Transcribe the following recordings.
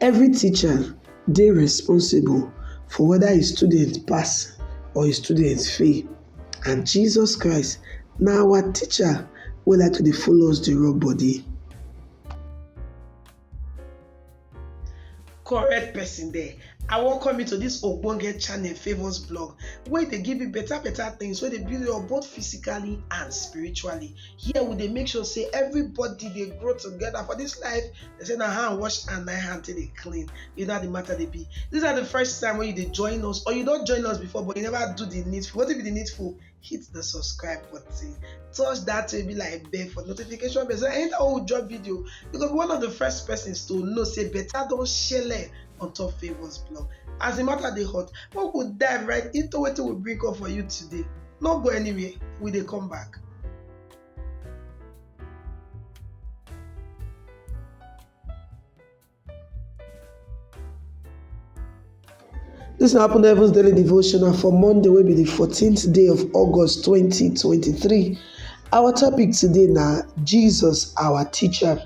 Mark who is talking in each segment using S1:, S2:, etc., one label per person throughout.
S1: Every teacher dey responsible for whether a student pass or a student fail and Jesus Christ na our teacher wey like to dey follow us dey rub body. correct person there i welcome you to this ogbonge channel favours blog wey dey give you better better things wey dey build you up both physically and spiritually here we dey make sure say everybody dey grow together for this life they say na hand wash and na hand take dey clean you know how the matter dey be this na the first time wey you dey join us or you don join us before but you never do the needful wetin be the needful hit the subscribe button touch that way be like bell for notification bell so anytime we drop video you go be one of the first persons to know say better don shele on top favours blog as the matter dey hot make we dive right into wetin we bring up for you today no go anywhere we dey come back This na happen heaven's daily devotional for monday wey be the 14th day of august 2023 our topic today na jesus our teacher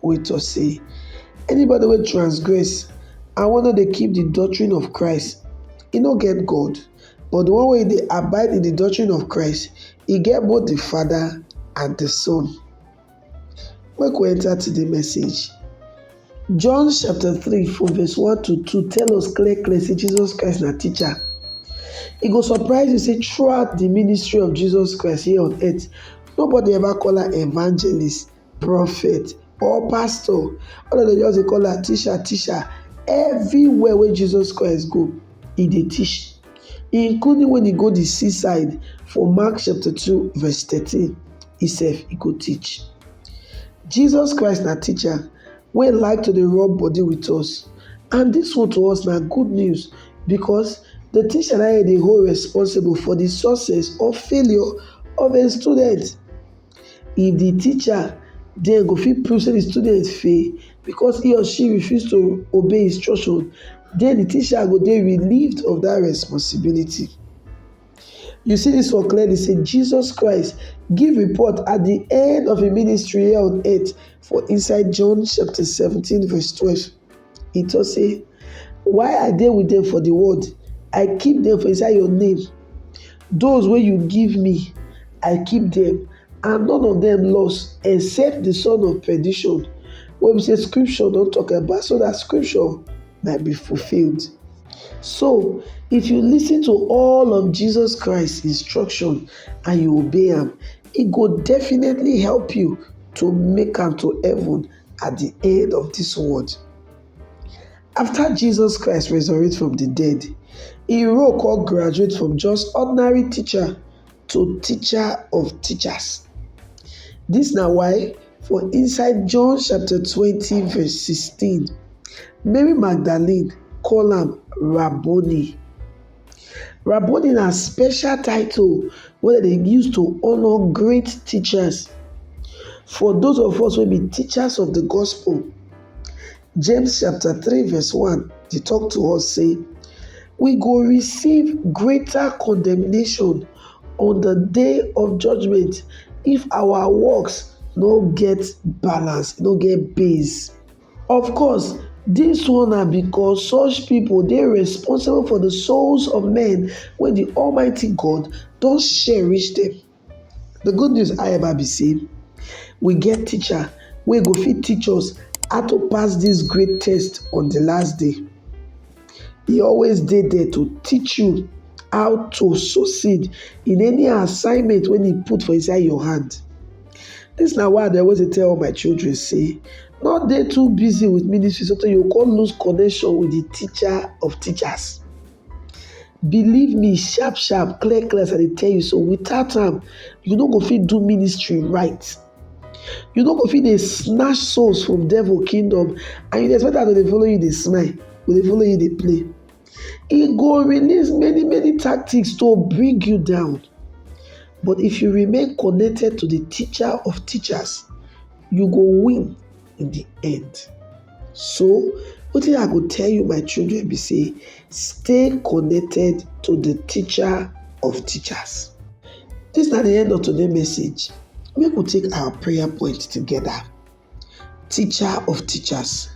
S1: wey tok sey, Anybody wey transgress and wey no dey keep di doctrine of Christ, e no get God, but di one wey dey abide in di doctrine of Christ, e get both di Father and di Son. Make we enta today message. John chapter three from verse one to two tell us clear clear sey Jesus Christ na teacher. E go surprise you sey throughout di ministry of Jesus Christ here on earth, nobody ever call am evangelist, prophet or pastor all of dem just dey call am teacher teacher everywhere wey Jesus Christ go he dey teach including when he go the seaside for Mark chapter 2 verse 13 he sef he go teach Jesus Christ na teacher wey like to dey rub body with us and this one to us na good news because the teacher na dey hold responsible for the success or failure of a student if di teacher there go fit prove sey di student fail because he or she refuse to obey instruction den di teacher go dey relieved of dat responsibility. You see dis one clearly sey Jesus Christ give report at di end of im ministry here on earth for inside John chapter seventeen verse twelve. He talk say, Why I dey with them for the world, I keep them for inside your name. Those wey you give me, I keep them, and none of them lost except the son of perdition, wey be say scripture don talk about, so that scripture might be fulfilled. So, if you listen to all of Jesus Christ's instruction and you obey am, e go definitely help you to make am to heaven at the end of this world. After Jesus Christ resurrect from the dead, he role come graduate from just ordinary teacher to teacher of teachers. This na why for inside John chapter 20 verse 16, Mary Magdalene call am Rabboni. Rabboni na special title wey dem dey use to honour great teachers. For those of us wey be teachers of the gospel, James chapter three verse one dey talk to us say, we go receive greater condemnation on the day of judgment if our works no get balance, no get base. Of course, dis one na because such pipo dey responsible for di souls of men wey di Almighty God don share reach dem. Di good news, however, be say we get Teacher wey go fit teach us how to pass dis great test on di last day. He always dey there to teach you how to succeed in any assignment when He put for inside your hand. This na why I dey always tell all my children say not dey too busy with ministry so you go come lose connection with the teacher of teachers. Believe me sharp sharp clear clear as I dey tell you so without am you no go fit do ministry right. You no go fit dey snatch souls from devil kingdom and you dey expect am to dey follow you dey smile, go dey follow you dey play. E go release many many tactics to bring you down. But if you remain connected to the teacher of teachers, you go win in the end. So wetin I go tell you my children be say stay connected to the teacher of teachers. This na the end of today message. Make we take our prayer point together. Teacher of teachers,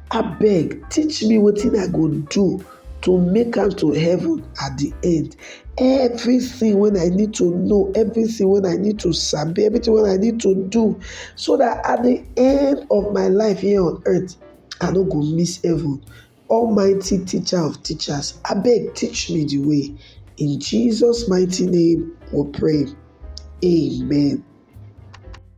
S1: abeg teach me wetin I go do to make am to heaven at the end everything when i need to know everything when i need to sabi everything when i need to do so that at the end of my life here on earth i no go miss heaven almighty teacher of teachers I beg teach me the way in jesus mighty name we pray amen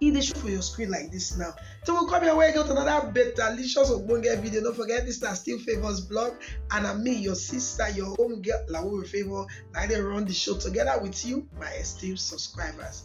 S1: e dey show for your screen like this now till we come your way again with another better licious ogbonge video don't forget this na still favours blog and i'm me your sister your home girl lawo favour na i dey run the show together with you my esteemed subscribers